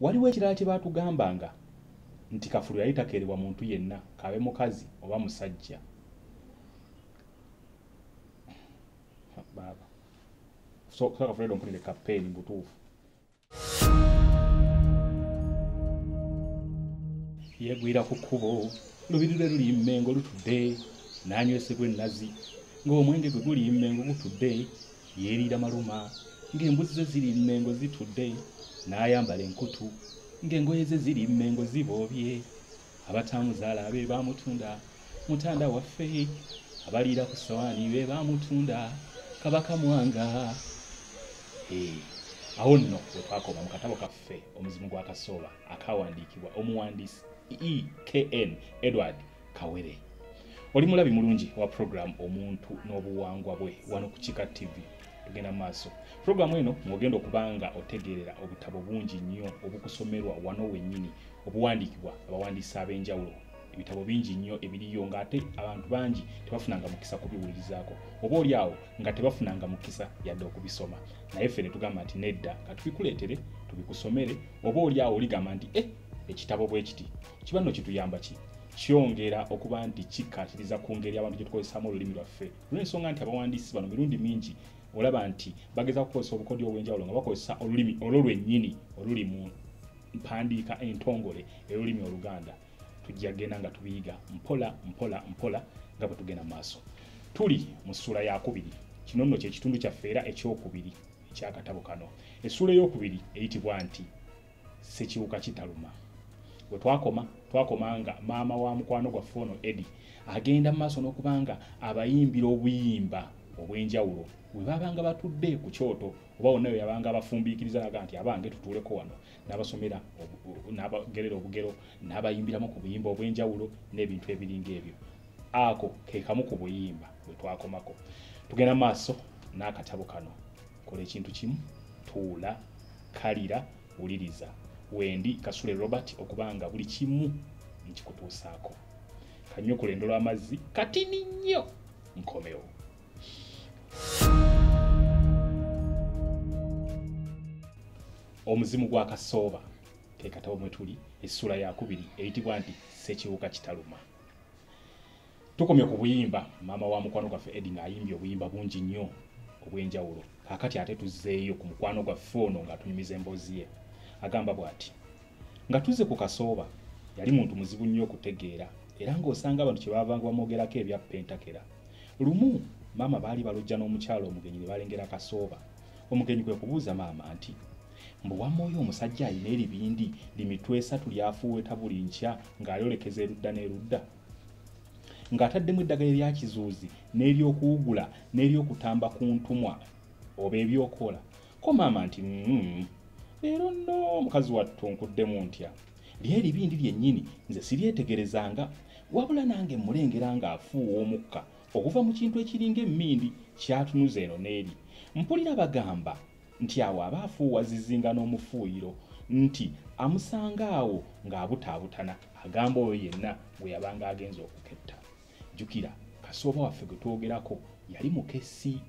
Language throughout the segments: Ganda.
waliwo ekirala kye baatugambanga nti kafulu yali takeerebwa muntu yenna kaabe mukazi oba musajja baaba so kafulu edo mpulire kapeeni butuufu yegwira ku kkubo lubiri lwe luli mmengo lutudde n'anywesebwa ennazi ng'omwenge gwe guli mmengo gutudde yeeriira maluma ng'embuzi ze ziri mmengo zitudde n'ayambala enkutu ng'engoye ze ziri mmengo ziboobye abataamuzaala be baamutunda mutanda waffe abaliira ku ssawaani be baamutunda kabaka mwanga eh, awo nno we twakoma mu katabo kaffe omuzimu gwa kasooba akawandiikibwa omuwandiisi ekn edward kawere oli mulabi mulungi wa puroguramu omuntu n'obuwangwa bwe wano ku kika tv tugenda maaso puroguramu eno mwogenda okuba nga otegeerera obutabo bungi nnyo obukusomerwa wano wennyini obuwandiikibwa abawandiisi ab'enjawulo ebitabo bingi nnyo ebiriyo ng'ate abantu bangi tebafunanga mukisa kubiwulirizaako oba oli awo nga tebafunanga mukisa yadde okubisoma naye ffe ne tugamba nti nedda nga tubikuleetere tubikusomere oba oli awo oligamba nti e ekitabo bwe kiti kiba nno kituyamba ki kyongera okuba nti kikkaatiriza ku ngeri abantu gye tukozesaamu olulimi lwaffe olw'ensonga nti abawandiisi bano mirundi mingi olaba nti bageza kukozesa obukodyo obw'enjawulo nga bakozesa olulimi olwo lwennyini oluli mu mpandiika entongole ey'olulimi oluganda tujja genda nga tubiyiga mpola mpola mpola nga bwe tugenda maaso tuli mu ssuula yakubiri kino nno kyekitundu kyaffe era ekyokubiri ekyakatabo kano essuula eyokubiri eyitibwa nti sekiwuka kitaluma we twakoma twakoma nga maama wa mukwano gwaffe ono edi agenda mu maaso n'okuba nga abayimbira obuyimba obw'enjawulo we baabanga batudde ku kyoto oba wonna weyabanga abafumbiikiriza naga nti abange tutuuleko wano n'abasomera n'abagerera obugero n'abayimbiramu ku buyimba obw'enjawulo n'ebintu ebiringa ebyo ako ke kamu ku buyimba bwe twakomako tugenda maaso n'akatabo kano kola ekintu kimu tuula kalira wuliriza wendi kasule robert okuba nga buli kimu nkikutuusaako kanyukula endolo amazzi katini nnyo nkomewo omuzimu gwa kasooba kekatabo mwe tuli essula yakubiri eyitibwa nti sekiwuka kitaluma tukomye ku buyimba maama wa mukwano gwaffe edi ng'ayimbye obuyimba bungi nnyo obw'enjawulo kakati ate tuzzeeyo ku mukwano gwaffe ono ng'atunyumiza emboozi ye agamba bw'ati nga tuzze ku kasooba yali muntu muzibu nnyo okutegeera era ng'osanga abantu kye baavanga bamwogerako ebyappa entakera lumu maama baali balojja n'omukyalo omugenyi ne balengera kasooba omugenyi kwe kubuuza maama nti mbu wamma oyo omusajja alina eribindi limitwe esatu lyafuuweta buli nkya ng'ayolekeza erudda n'erudda ng'ataddemu eddagala eryakizuuzi n'eryokuwugula n'eryokutamba ku ntumwa oba ebyokola ko maama nti mm, leero nno omukazi wattu nkuddemu ntya mm, lyeribindi lyennyini nze siryetegerezanga wabula nange mmulengera ng'afuuwa omukka okuva mu kintu ekiringa emmindi kyatunuza eno n'eri mpulira bagamba nti awo aba afuuwa zizinga n'omufuuyiro nti amusanga awo ng'abutaabutana agamba oyo yenna gwe yabanga agenza okuketta jukira kasooba waffe gwe twogerako yali mukesi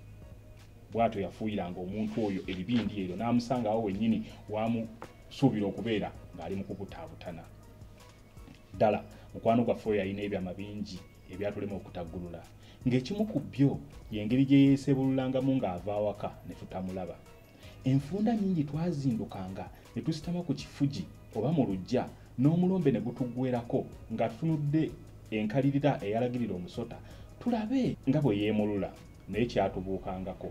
bwatyo yafuuyiranga omuntu oyo ebibindi ebyo n'amusanga awo wennyini wamusuubira okubeera ng'ali mu kukutaabutana ddala mukwano gwaffe oyo yalina ebyama bingi ebyatulema okutaggulula ng'ekimu ku byo y'engeri gye yeesebululangamu ng'ava awaka ne tutamulaba Enfunda nnyingi twazindukanga ne tusitama ku kifugi oba mu luggya n'omulombe ne gutuggwerako ng'atutunudde enkalirira eyalagirira omusota tulabe nga bwe yeemulula naye kyatubuukangako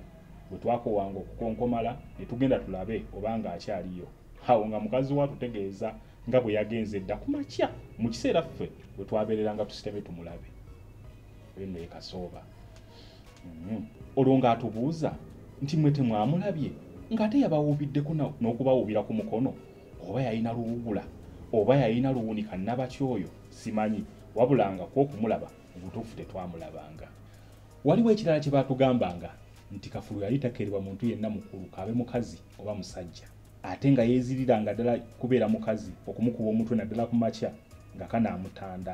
bwe twakowanga okukonkomala ne tugenda tulabe oba ng'akyaliyo awo nga mukazi wo atutegeeza nga bwe yagenze edda ku makya mu kiseera ffe bwe twabeereranga tusitamye tumulabe oyo nno ye kasooba mm-hmm. olwo ng'atubuuza nti mwe temwamulabye ng'ate yabawuubiddeko n'okubawuubira ku mukono oba yalina luwugula oba yalina luwunika nabaki oyo simanyi wabula nga kwokumulaba mubutuufu tetwamulabanga waliwo ekirala kye baatugambanga nti kafulu yali takerebwa muntu yenna mukulu kaabe mukazi oba musajja ate nga yeeziriranga ddala kubeera mukazi okumukuba omutwe naddala ku makya nga kanaamutanda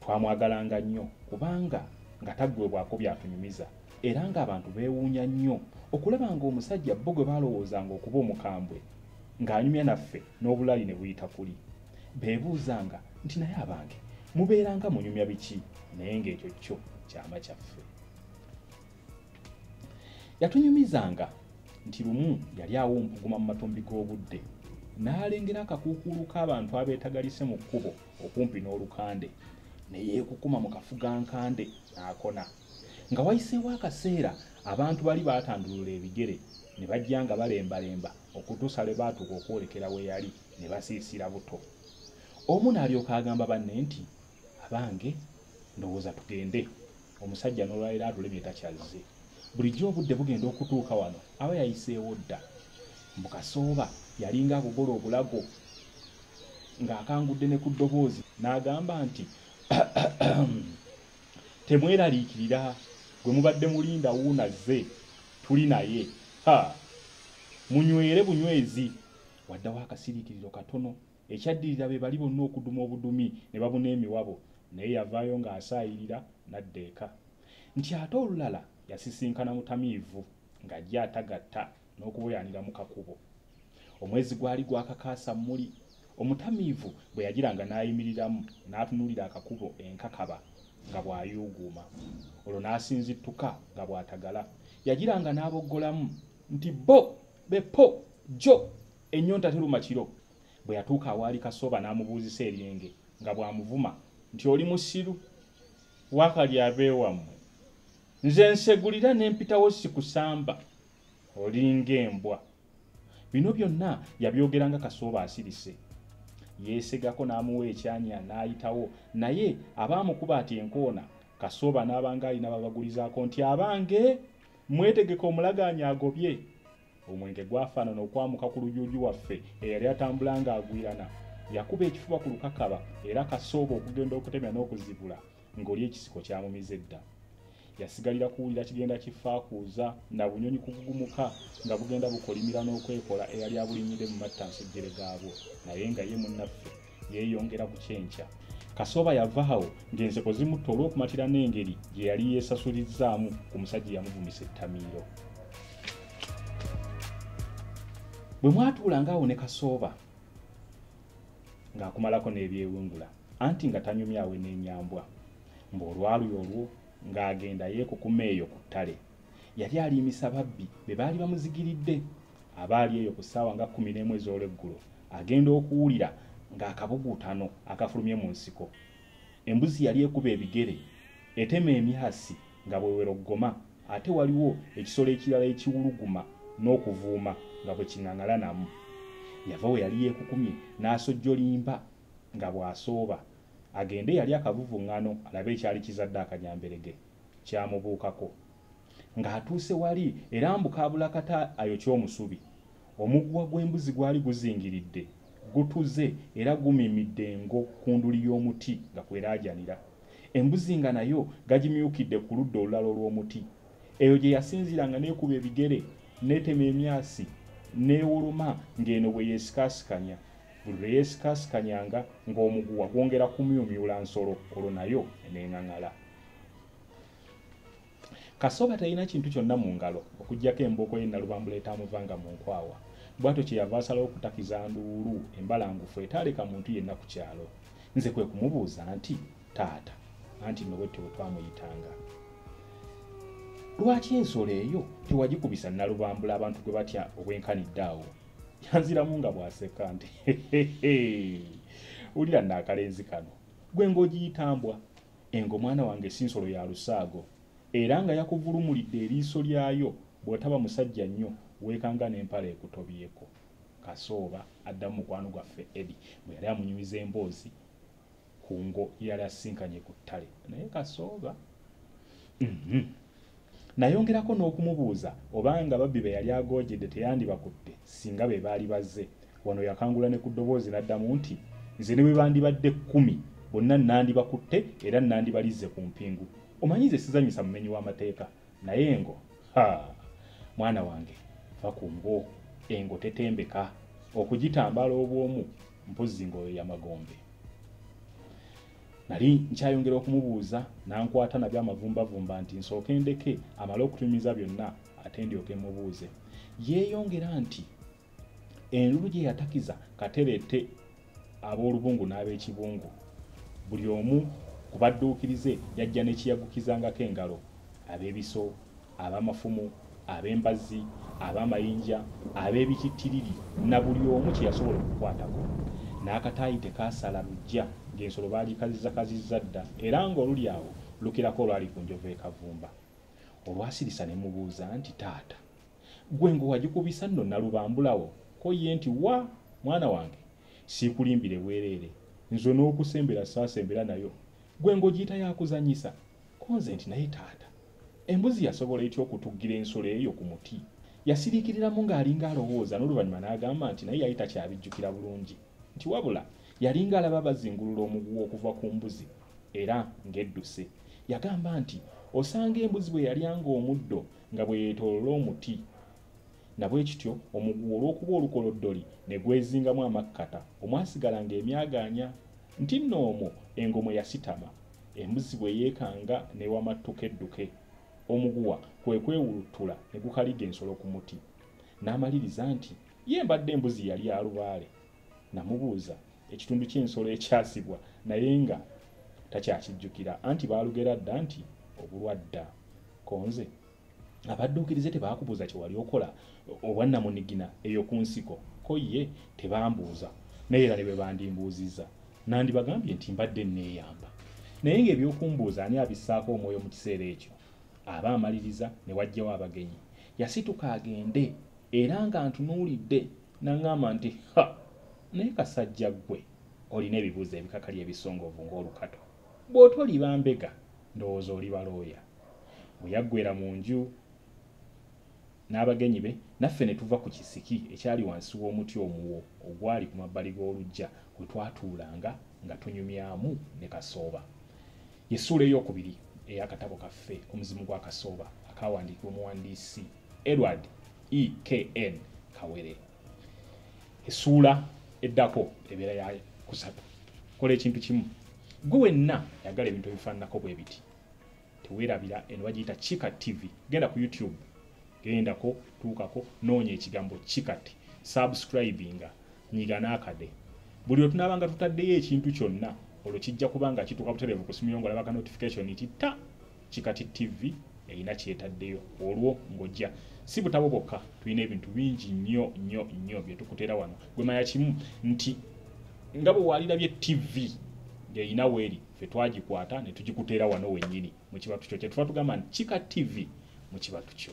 twamwagalanga nnyo kubanga nga taggwebwako byatunyumiza era ng'abantu beewuunya nnyo okulaba ng'omusajja bo gwe baalowoozanga okuba omukambwe ng'anyumya naffe n'obulaali ne buyita kuli beebuuzanga nti naye abange mubeeranga munyumya biki naye ng'ekyo kyo kyama kyaffe yatunyumizanga nti lumu yali awo mpuguma mu matumbi g'obudde n'alengera akakuukuulu k'abantu abeetagalise mu kkubo okumpi n'olukande ne yeekukuma mu kafugankande n'akona nga wayiseewo akaseera abantu bali baatandulula ebigere ne bajja nga balembalemba okutuusa lwe baatuuka okwolekera we yali ne basiisira buto omu n'alyoka agamba banne nti abange ndowooza tugende omusajja nolwaliro atulemye takyazze bulijjo obudde bugenda okutuuka wano aba yayiseewo dda mbukasooba yalinga akugola obulago ng'akangudde ne ku ddoboozi n'agamba nti temweraliikirira gwe mubadde mulinda wuunazze tuli naye ha munywere bunywezi waddawo akasiriikiriro katono Ekyaddirira be bali bonna okuduma obudumi ne babuna emiwabo naye yavaayo ng'asaayirira n'adda eka. Nti ate olulala yasisinkana mutamiivu ng'ajja atagatta n'okuboyaanira mu kakubo. Omwezi gwali gwakakaasa mmuli. Omutamiivu bwe yagiranga n'ayimiriramu n'atunuulira akakubo enkakaba nga bw'ayuuguuma. Olwo n'asinzittuka nga bw'atagala. Yagiranga n'aboggolamu nti bo be po jo Ennyonta teruma kiro bwe yatuuka awaali Kasooba n'amubuuzisa eryenge nga bw'amuvuma nti oli musiru waakali abeewammwe nze nsegulira ne mpitawo sikusamba olinga embwa bino byonna yabyogera nga Kasooba asirise yeesegako n'amuwa ekyanya n'ayitawo naye abaamukuba ati enkoona Kasooba n'abanga alina babagulizaako nti abange mwetegeka omulagaanya agobye omwenge gwafaanana okwamuka ku lujuuju waffe eyali atambula ng'agwirana yakuba ekifuba ku lukakaba era kasooba okugenda okutemya n'okuzibula ng'oli ekisiko kyamumiza edda yasigalira kuwulira kigenda kifaakuuza na bunyonyi kugugumuka nga bugenda bukolimira n'okwekola eyali abulinyidde mu mattansujjere gaabwo naye nga ye munnaffe yeeyongera ku kyenkya kasooba yavaawo ng'enseko zimutta olw'okumatira n'engeri gye yali yeesasulizzaamu ku musajja eyamuvumisa ettamiiro bwe mwatuula ng'awo ne kasooba ng'akumalako n'ebyewungula anti nga tanyumyawe n'enyambwa mbu olwaluyo olwo ng'agenda yeekukuma eyo ku ttale yali aliimisa babbi be baali bamuzigiridde abaali eyo ku ssaawa nga kkumi n'emu ez'olweggulo agenda okuwulira ng'akabuguutano akafulumye mu nsiko embuzi yali ekuba ebigere etema emyasi nga bweweroggoma ate waliwo ekisolo ekirala ekiwuluguma n'okuvuuma nga bwe king'aŋalanamu yava we yali yeekukumye n'asojjolimba nga bw'asooba agende yali akavuvuŋŋano alabe ekyali kizadde akanyamberege kyamubuukako ng'atuuse wali era mbu kaabula kata ayokya omusubi omuguwa gw'embuzi gwali guzingiridde gutuze era gumimidde engo ku nduli y'omuti nga kweraajanira embuzi nga nayo gagimyukidde ku ludda olulala olw'omuti eyo gye yasinziira nga neekuba ebigere neetema emyasi neewoloma ng'eno bwe yeesikaasikanya buli lwe yeesikaasikanyanga ng'omuguwa gwongera kumyumyula nsolo olwo nayo eneengaŋala kasoba talina kintu kyonna mu ngalo okugyako embooko ye nalubambula etamuvanga mu nkwawa bwatyo kyeyava asalawo okutakiza nduulu embalangufu etaaleka muntu yenna ku kyalo nze kwe kumubuuza nti taata anti nowette we twamuyitanga lwaki ensolo eyo tewagikubisa nalubambula abantu gwe batya obwenkanidde awo yanziramu nga bwaseka nti wulira naakalenzi kano gwe ngaogiyitambwa Engo mwana wange si nsolo ya lusaago era nga yakuvulumulidde eriiso lyayo bw'otaba musajja nnyo weekanga n'empala ekutobyeko. Kasooba addamu mukwano gwaffe Eddy bwe yali amunyumiza emboozi ku ngo yali asisinkanye ku ttale. Naye Kasooba mhm. Nayongerako n'okumubuuza obanga ababbi be yali agoojede teyandibakutte singa be baali bazze. Wano yakangula ne ku ddoboozi n'addamu nti, Nze ne bwe bandibadde kkumi bonna nnandibakutte era nnandibalizze ku mpingu. Omanyi nze sizannyisa mumenyi w'amateeka naye engo, ha! Mwana wange va ku ngo. Engo tetembeka. Okugitambaala obw'omu mpozzi ng'oyoya magombe. nali nkyayongera okumubuuza n'ankwata nabyo amavumbavumba nti nsooke ndeke amale okutumiza byonna ate ndyoke mubuuze yeeyongera nti enlulu gye yatakiza katereete ab'olubungu n'ab'ekibungu buli omu ku badduukirize yajja nekiyagukizangako engalo ab'ebiso ab'amafumu ab'embazzi ab'amayinja ab'ebitittiriri na buli omu kye yasobola okukwatako n'akataayi tekaasala lujja ng'ensolo baagikazizzakazizza dda era ng'oluli awo lukirako olwali ku njovu ekavumba olwasirisa ne mubuuza nti taata gwe ng'owagikubisa nno nalubambulawo ko ye nti wa mwana wange siikulimbire bwereere nze n'okusembera saasembera nayo gwe ng'ogiyita yakuzanyisa ko nze nti naye taata Embuzi yasobola etya okutuggira ensolo eyo ku muti? Yasiriikiriramu ng'alinga alowooza n'oluvannyuma n'agamba nti naye yali takyabijjukira bulungi nti wabula yalinga alaba bazingulula omuguwa okuva ku mbuzi era ng'edduse. Yagamba nti osanga embuzi bwe yalyanga omuddo nga bwe yeetoolola omuti na bwe kityo omuguwa olw'okuba olukoloddoli ne gwezingamu amakkata omwasigalanga emyagaanya Nti nno omwo engo mwe yasitama, embuzi bwe yeekanga n'ewamattuka edduke, omuguwa kwe kwewuluttula ne gukaliga ensolo ku muti. N'amaliriza nti, Ye mbadde embuzi yali ya lubaale. Namubuuza ekitundu ky'ensolo ekyasibwa naye nga takyakijjukira anti baalugera dda nti, Obulwa dda. Konze abadduukirize tebaakubuuza kye wali okola obwannamunigina eyo ku nsiko ko ye tebambuuza naye era ne bwe bandimbuuzizza nandibagambye nti mbadde nneeyamba naye ng'ebyokumbuuza ani abissaako omwoyo mu kiseera ekyo aba amaliriza ne wajjawo abagenyi yasituka agende era nga ntunuulidde naŋŋamba nti ha naye kasajja ggwe olina ebibuuzo ebikakali ebisongovu ng'olukato bw'otoliba mbega ndowooza oli balooya Bwe yaggwera mu nju n'abagenyi be, naffe ne tuva ku kisiki ekyali wansi w'omuti omuwo ogwali ku mabbali g'oluggya we twatuulanga nga tunyumyamu ne kasooba. Y'essuula ey'okubiri ey'akatabo kaffe Omuzimu gwa Kasooba akaawandiikibwa omuwandiisi Edward E. K. N. Kawere. Essuula eddako ebeera ya kusatu. Kola ekintu kimu. Ggwe wenna ayagala ebintu ebifaananako bwe biti. tewerabira eno bagiyita kika tv genda ku youtube gendako tuukako noonya ekigambo kikati subscribinga nyiga n'akade buli otunaabanga tutaddeyo ekintu kyonna olwo kijja kuba nga kituuka butereevu ku simu yo ngolabaka notification nti ta kikati tv erina kyetaddeyo olwo ng'ojja si butabo bwokka tulina ebintu bingi nnyo nnyo nnyo bye tukuteera wano gwemanya kimu nti nga bwe waalirabye tv ng'erina weeri ffe twagikwata ne tugikuteera wano wennyini mu kibatu kyo kyetuba tugamba nti kika tv mu kibatu kyo